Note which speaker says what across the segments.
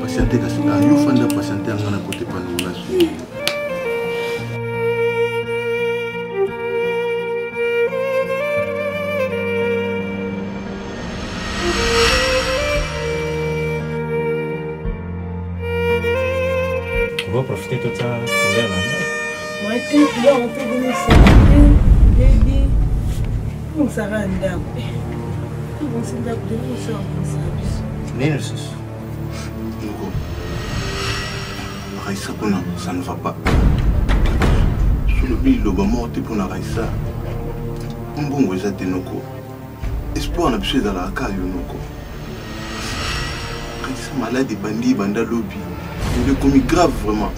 Speaker 1: patiente kasi nga yo fanda patiente yanga na kote pandola profiter de ça.
Speaker 2: nini lisusu
Speaker 3: moko raisa kuna ça ne va pas solobi liloba moko te mpo na raisa mbongo eza te noko espoir na biso ezalaka kaka yo noko kanisa malade ebandi ebanda lobi elo ekomi grave vraiment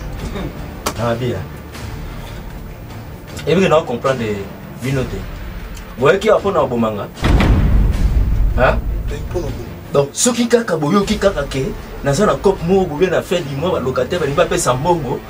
Speaker 1: abia ebike na ocomprendre bino te boyaki awa mpona koboma nga donc soki kaka boyoki kaka ke naza na cope moko bobe na fin du mois balocataire balingi bapesa mbongo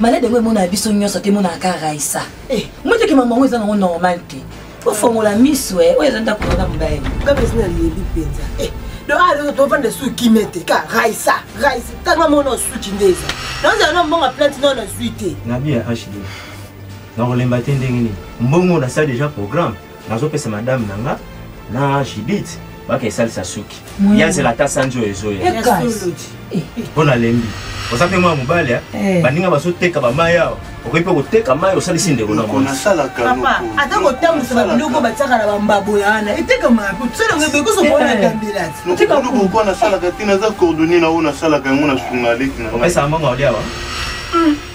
Speaker 4: malade yango emonaka biso nyonso te emonaka kaka raisa eh, moteke mama yango eza nango normal te ofongola miso e oyo eza ndako wana mobali kaka esi nalebi
Speaker 2: mpenza eh, ah, tovanda esu kimia te ka raisa raisa tanga mona osuki nde eza nazala na mbongo plante nao nazwi te nabi ya hd
Speaker 1: nakolemba te ndenge nini mbongo nasali deja programme nazopesa madame na nga na judith baka esalisa suki ye azela ata sanji oyo ezoya eh, mpo eh. nalembi oza mpe mwana mobali eh. baninga bazoteka bamai awa okoki mpe koteka mai osalisi ndeko na monasalakapapa ata
Speaker 2: kotambusa babiloko batiaka na bambabo ya wana etekamaka mpo tosalanga bekosokonatambilatiokolukuko
Speaker 3: nasalaka te naza coordonne na oyo nasalaka yango na sungaleki na opesa mbongo aoliawa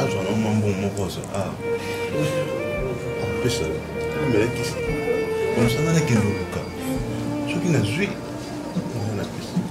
Speaker 2: azwa na mwa mbongo moko azwa ah. apesa melakisi omosanga nakende oluka soki nazwi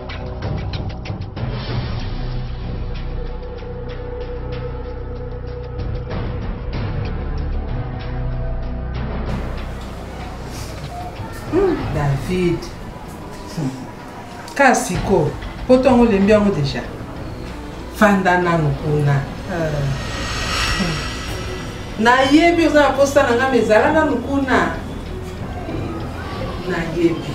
Speaker 5: Hmm, david hmm. kasi ko poto yango olembi yango deja fanda nanu kuna euh. hmm. nayebi oza na posa na ngai mezala nanu kuna nayebi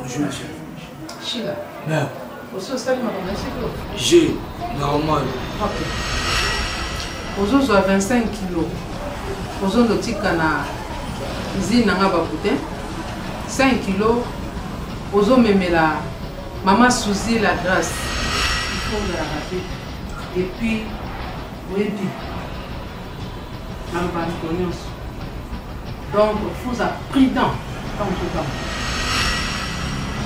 Speaker 6: Bonjour,
Speaker 5: monsieur. Sheila. Mère. Aussi, on
Speaker 6: s'allume à la cheveux. J'ai, normal. Ok.
Speaker 5: ozozwa 25 kilo ozondo tika na izine na nga bakute 5 kilo ozomemela mama suzi la grace ifondalaka te epuis oyebi na mbandiko nyonso donc faut a prudent ntango totanga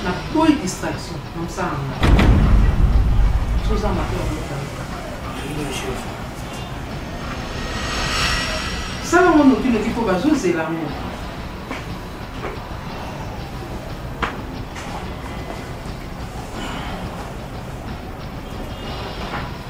Speaker 5: na boyi distraction na mosala na ngai soza mato sala ngo nokinoki mpo bazozela ngo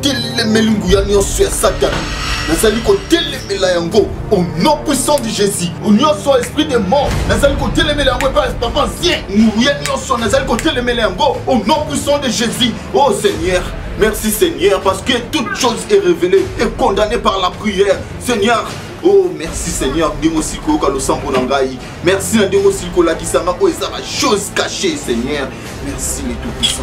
Speaker 3: telemeli nguya nyonso ya satana nazali kotelemela yango au nom puissant de jésus nyonso esprit de mort nazali kotelemela yango epai papa ancien nguya nyonso nazali kotelemela yango au nom puissant de jésus oh seigneur Merci Seigneur parce que toute chose est révélée et condamnée par la prière. Seigneur, oh merci seigneur ndenge osili koyoka losambo na ngai merci na ndenge osili kolakisa ngai oyo eza bachose cache seigneur merci le tout puissant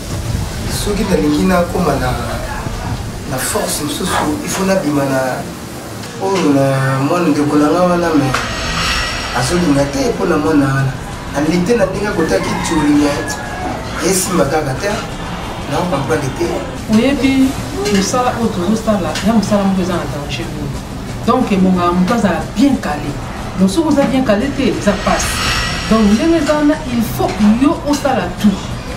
Speaker 7: soki nalingi nakoma na, na force mosusu il faut nabima na oyo na mwana ndeko na nga wana me azolinga te mpo na mwana wana alite na ndenge akotaki tulinga esimba kaka te naokomprendre te oyebi
Speaker 5: mosala oyo tozosala ya mosala moko eza na danger oyo donc ebongaka moto azala bien kale donc soki oza bien kale te eza mpasi donc ndenge eza wana il faut yo osala tout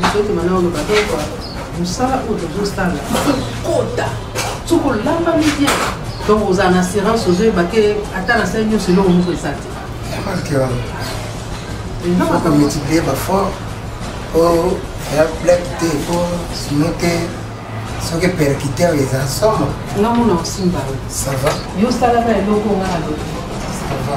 Speaker 5: nzoto mana oloba toko mosala oyo tozosala kokota soki olambami bien donc ozala na assurance ozoyeba ke ata na sali nyonso eloko moko eza te
Speaker 7: okomultiplie bafort po ya blake te po sino te soki percuter oyo eza somo nga mona osimba
Speaker 5: oyo sava
Speaker 7: yo osalaka eloko
Speaker 5: nga na lobi sava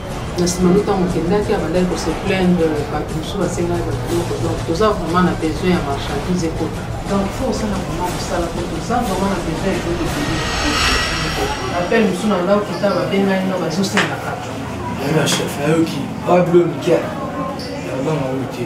Speaker 5: na nsima no ntango okendaki abandaki kose plaindre bato mosusu basengaki bato biloko donc toza vraiment na besoin ya marchandise ekota donc fo osala vraiment mosala po toza vraiment na besoin ya biloko ebele appel mosusu na nga okita babengani na bazosengaka na chef
Speaker 7: nayoki pablo mikia nabanga oyo te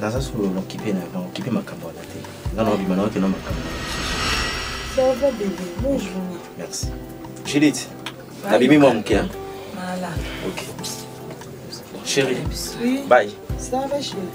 Speaker 2: naza solo
Speaker 1: na kipe na bango kipe makambo wana te nga na obima na okenda makambo Ça
Speaker 2: va bébé, bonne journée. Merci.
Speaker 1: Judith, Bye. nabimi mwa moke hein? Voilà.
Speaker 4: Ok.
Speaker 1: Chérie, Oui.
Speaker 2: bye. Ça va
Speaker 1: chérie.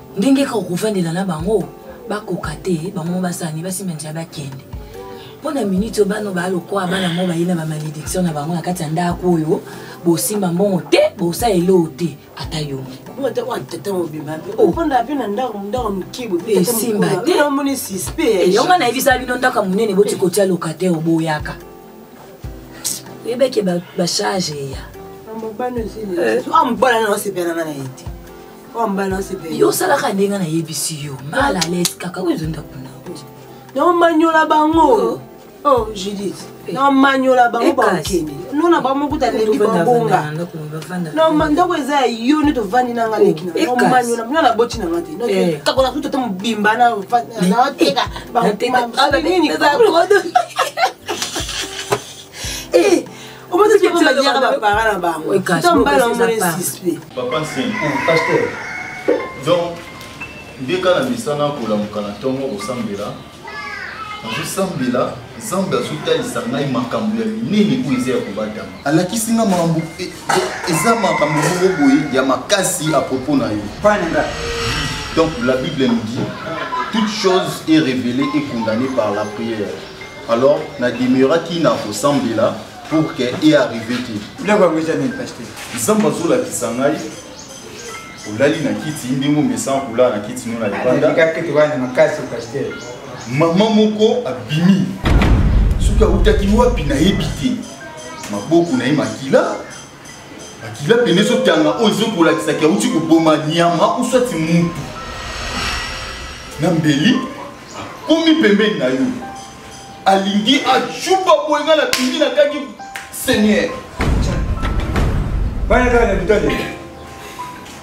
Speaker 4: ndenge kaka okovandela na bango bakoka te bango mo basala nini basimba nzela bakende mpo na miniti oyo bana baa lokola bana mo baye na bamalédiction na bango na kati ya ndako oyo bosimba mbongo te bosala eloo te ata yo
Speaker 2: esimba te yango nayebisa bino
Speaker 4: ndako ya monene boti kotia locataire oboyaka oyebeke bacharge eya
Speaker 2: mobala na osepela na na ye te yo osalaka ndenge
Speaker 4: nayebisi yo mal à l'aise kaka oyo ezonda kuna
Speaker 2: naomanyola bango oh. oh judith eh. namanyola bango eh, bakende nona bango mokuta eh, lembi babonga ndako eza ya yo nde tovandi na nga leki namanyola bino na boti na nga te kakola kutu te mobimba nateka bango
Speaker 3: donc nde kaka na misana kolamuka na ntongo kosambela nazosambela nzambe azotalisa ngai makambo ya minene oyo eza ya kobatama alakisi nga makambo e, e, eza makambo moko boye ya makasi a propos na yo pananga donc la bible nous dit toute chose est révélée et condamnée par la prière alors na demeuraki na kosambela pour que e arrive te biloko yango eza nini paster nzambe azolakisa ngai olali na kiti ndenge omesana kolala na kiti no na libanda makasi paster mama moko abimi soki autaki wapi nayebi te maboko na ye makila makila pene ezotanga oyo ezokolakisaki auti koboma nyama uswati mutu na mbeli akomi pembeni na yo alingi acuba boye ngai napindi nakangi seigneur
Speaker 8: bana kaka na bitale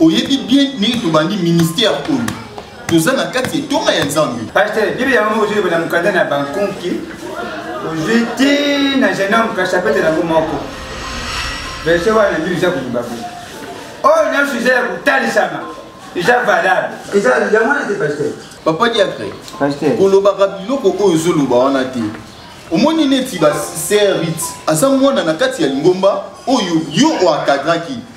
Speaker 3: oyebi bien ndenge tobandi ministère oyo toza na kati ya etonga ya nzambe paster bibi yango moko ozwi
Speaker 8: na mokanda na bankonki ozwi ti na genome kasapete nango moko verse wana bibi eza koloba boye oyo nyonso eza ya kotalisama eza valable eza yango wana te paster papa diacre
Speaker 3: kolobaka biloko oyo ozoloba wana te omoni neti baserite aza mwana na kati ya lingomba oyo yo oakadraki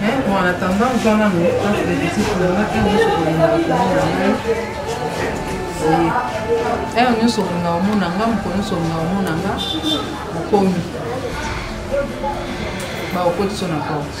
Speaker 5: Mais bon, en attendant, je vais m'amener un peu de petits pour le matin, je suis pour le matin. Eyo nyonso olinga omona nga moko nyonso olinga omona nga okomi baokotisa na porte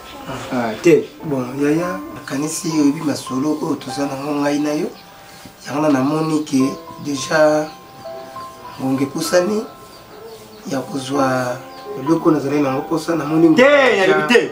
Speaker 8: Ah, te bon yaya
Speaker 7: nakanisi oyebi masolo oyo toza nango ngai na yo yango na namoni ke deja ngonga epusani ya kozwa eloko nazali nango mposa namoni te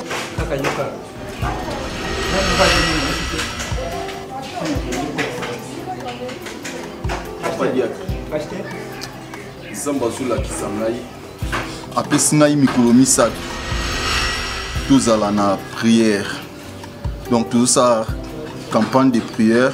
Speaker 3: kaka yoka nzambe azolakisa ngai apesi ngai mikolo misato tozala na prière donc tozosala campagne de prière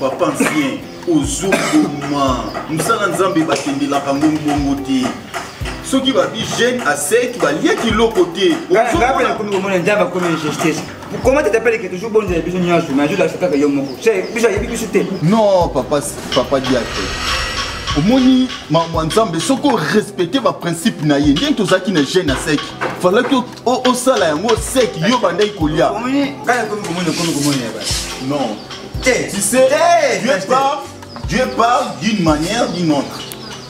Speaker 3: papa ancien ozokoma mosala nzambe bakendelaka ngo bongo te soki babi jeune aseki balia kiloko te nakomi komona
Speaker 8: nzambe akomi injustice comment tu t'appelles que toujours bonne biso nyonso mais azola kaka yo moko biso ayebi biso te non papa
Speaker 3: papa diate omoni makambo ya nzambe soki orespecte baprincipe na ye ndenge tozalaki na jeune aseki falaki osala yango seki yo bandaki kolia
Speaker 8: non eh,
Speaker 3: tu sais eh, dieu parle dieu parle d'une manière d'une autre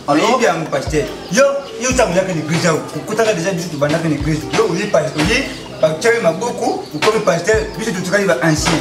Speaker 3: alors bien
Speaker 8: pasteur yo yo tamulaka ni grija kutaka déjà biso tubandaka ni grija yo oye pasteur oye bakutaki maboko okomi pasteur biso totikali ba ancien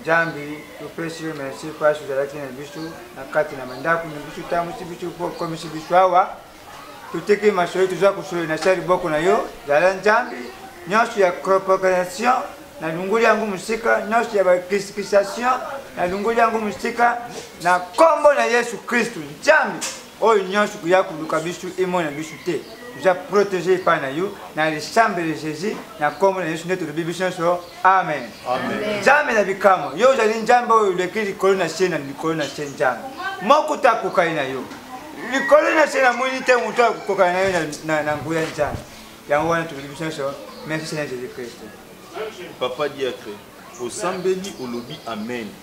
Speaker 8: Nzambe topesi yo merci mpasi ozalaki na biso na kati na bandako na biso otambwisi biso mpo okomisi biso awa toteki masolo toza kosolo na sali boko na yo zala nzambe nyonso ya corporation na lungoli yango mosika nyonso ya bakristification na lungoli yango mosika na nkombo na yesu kristu nzambe oyo nyonso koya koluka biso emona biso te toza protege epai na yo na lisambe de jésus na nkombo na yesu nde tolobi biso nyonso amen nzambe na bikamwa yo ozali nzambe oyo oleki likolo na se na likolo na se nzambe moko te akokani na yo likolo na se namoni te moto akokokana na yo na nguya nzambe yango wana tolobi biso nyonso merci seigneur jésus christ papa
Speaker 3: diacre osambeli olobi amen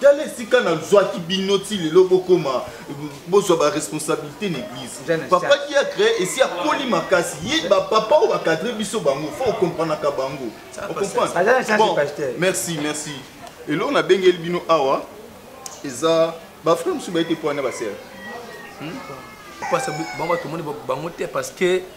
Speaker 3: tala esika nazwaki bino ti lelo bokoma bozwa baresponsabilité na église papa ki a créé esi akoli makasi ye bapapa oyo bacadre biso bango fo okompranaka bango bon merci merci eloko nabengeli bino awa eza bafrère mosusu bayete mpo wana basere
Speaker 1: hmm? bango tomoni bango te parce que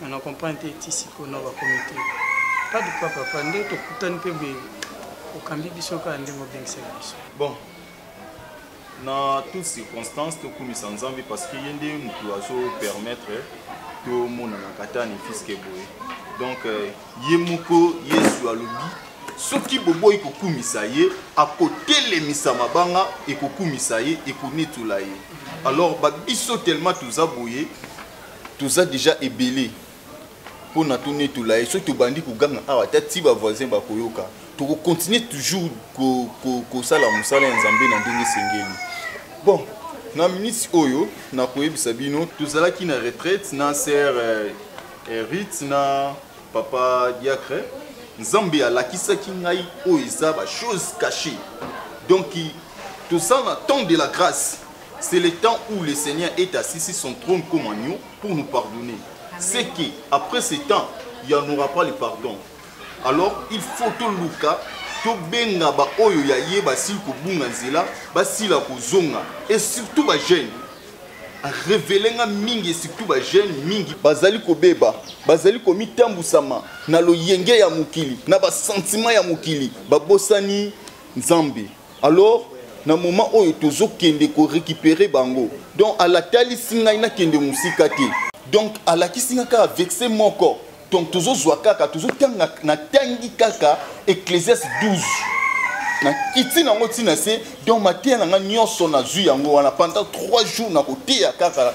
Speaker 9: nga na comprendre te ti sikoyo na bakomi te pas de quoi papa nde tokutani mpe boye okambi biso kaka ndenge obengisaki biso bon
Speaker 3: na toute circonstance tokumisa nzambe parce que ye nde motu azopermettre tomonana katani fiske boye donc euh, ye moko yesu alobi soki boboyi kokumisa ye akotelemisa mabanga ekokumisa ye ekonetola ye alors babiso tellement toza boye toza deja ebele mpo na tonetola ye soki tobandi koganga awa ata ti bavoisin bakoyoka tokokontinue toujours kosala mosala ya nzambe na ndenge esengeli bon na minisi oyo nakoyebisa bino tozalaki na retraite na ser eh, eh, rite na papa diacre nzambe alakisaki ngai oyo eza bachose cache donc toza na temps de la grâce C'est le temps où le Seigneur est assis sur son trône comme agneau pour nous pardonner. C'est que après ce temps, il n'y en aura pas le pardon. Alors, il faut tout Luka, tout benga ba oyo ya ye ba sil ko bunga nzela, ba sila ko zonga et surtout ba jeunes. révélé nga mingi et surtout ba jeunes mingi bazali ko beba, bazali ko mitambusama na loyenge ya mokili, na ba sentiments ya mokili, ba bosani Nzambe. alors na moment oyo tozokende ko récupérer bango donc alatalisi ngai nakende mosika te donc alakisi ngai kaka vexe moko donc tozozwa kaka tozotanga natangi kaka ecclésias 12 nakiti nango ntina se donc mateya na ngai nyonso nazwi yango wana pendant 3 jours nakoteya kaka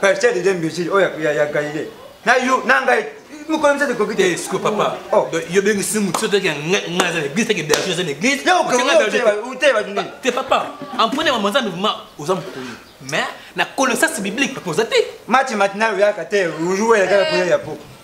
Speaker 1: pasteur de imbécile oyo oh, ya galilée na yo na ngai mokolo misatu ekoki te eh, siko papa oh. yo bengisi motu soki toyeke ngai aza na église teke berger aza na église te bato nini te papa empone mama nzambe vraimen oza mokolo mais na connaissance biblique papa oza te mati
Speaker 8: matinal oyaka te ojuwelaka ya koya ya po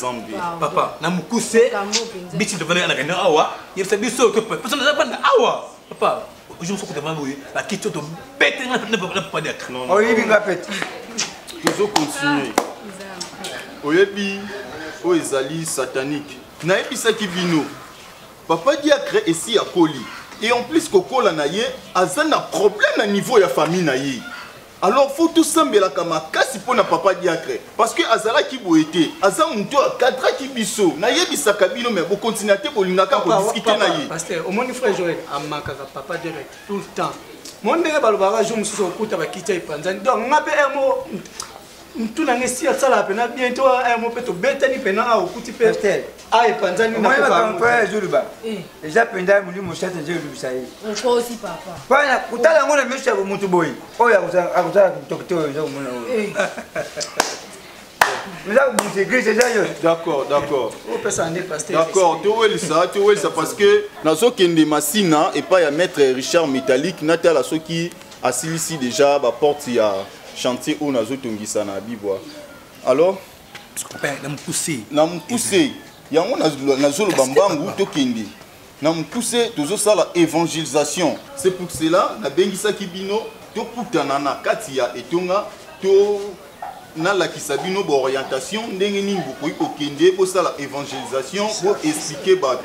Speaker 3: zambi papa
Speaker 1: na mokuse biti devana na kenda awa yebisa biso to pesa na banda awa papa ojo mosoko devana boye bakiti oyo tobete nga na papa diaka oyebi nga pete
Speaker 8: tozo
Speaker 3: continue oyebi oyo ezali satanique nayebisaki bino papa diacre esi akoli et en plus kokola na ye aza na problème na niveau ya famille na ye alors faut tosambelaka makasi mpo na papa diacre parce que azalaki boye te aza moto oyo akadraki biso nayebisaka bino me bokontinua te bolingaka kodiskite na ye paster omoni frère joel
Speaker 9: amakaka papa diacre tout le temps mo ndenge balobaka jour mosusu okuta bakiti ya epanzani donc nga mpe emo ntuna nge si asalaka mpena bien to ayamo mpe tobetani mpena awa okuti mpe a epanzani naoyebakampayazoluba
Speaker 8: eh. eza mpenza molimo sata nje olobisa ye
Speaker 10: mpona kotala yango na
Speaker 8: miso ya motu boye oyo akozala kitokito oyo eza komona oyo eh. eza kobusa
Speaker 3: eglise eza yo d'accord d'accord
Speaker 9: d'accord towelisa
Speaker 3: towelisa parce que nazokende masina epai ya maître richard métallique natala soki asilisi deja ba porte ya chantier oyo nazotongisa na bibwa alors na mokuse na mokuse yango nazoloba mbangu tokende na mokuse tozosala évangélisation c'est pour cela nabengisaki bino tokutana na kati ya etonga to nalakisa bino baorientation ndenge nini bokoki kokende bosala évangélisation boexplike bato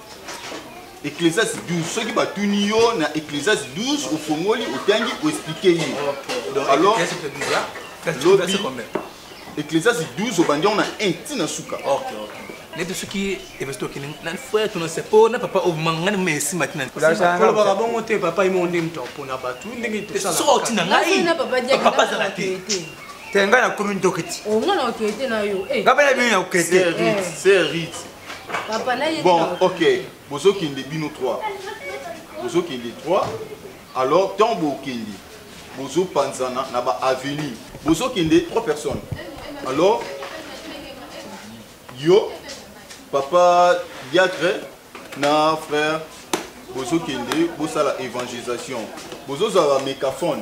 Speaker 3: Ecclesiastes 12 soki batuni yo na Ecclesiastes 12 ofongoli otangi oexplike ye alors lobi Ecclesiastes 12 obandi yango na 1 ti na suka
Speaker 1: neti soki evesti okende na frère tuna se mpo na papa omangani moma esima ti nakolobaka bongo
Speaker 9: te papa imo nde moto mpona bato ndenge tosalasoki oti na ngai
Speaker 1: papa azala te te ngai nakomi
Speaker 8: ndoki ti nga na okete na
Speaker 10: yo nga mpe na bino na okete
Speaker 3: papa na ye
Speaker 10: bon ok
Speaker 3: bozo kende bino 3 bozo kende 3 alors tant bokende bozo panzana na ba avenue bozo kende 3 personnes alors yo papa diacre na frère bozokende bosala évangélisation bozozwa ba mécaphone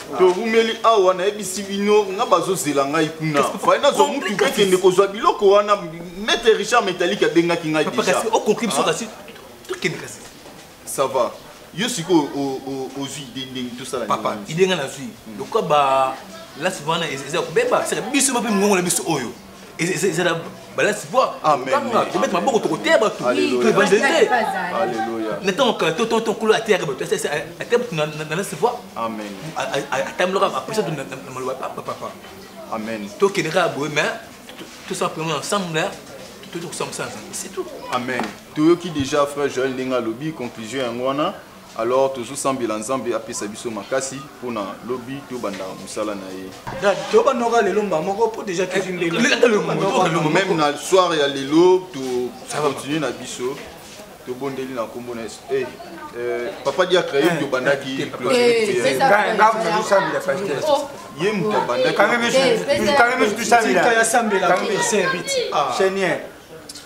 Speaker 3: towumeli awa nayebisi bino nga bazozela ngai kuna fai nazwa mutu kokende kozwa biloko wana maitre richard metalike abengaki ngai
Speaker 1: ça va
Speaker 3: yo sikoyo ozwi ide ndenge tosala papa ide ngai nazwi
Speaker 1: lokola ba lasi wana eza kobeba saka biso mpe mongongo na biso oyo ezala balasi po kobeta
Speaker 3: maboko tokoteya
Speaker 1: bato toevangelise na ntango kala to to nkolo ateyaka bato ateya bato na lasi po
Speaker 3: atambolaka
Speaker 1: apesa to na maloba papa amen
Speaker 3: tokende kaka boye
Speaker 1: mais tosala mpenza ensemble toyokosambisa nzambe c'est tout amen toyoki
Speaker 3: déjà frère joël ndenge alobi conclusion yango wana Alors tozo sambela nzambe apesa biso makasi pona lobi tobanda musala na ye. Dad tobanoka
Speaker 9: lelo mba moko po deja tozwi mbela. Meme
Speaker 3: na soir ya lelo to continue na biso tobondeli na nkombo na yesu eh, eh, papa diacre ye moto obandaki ye moto
Speaker 9: abandaki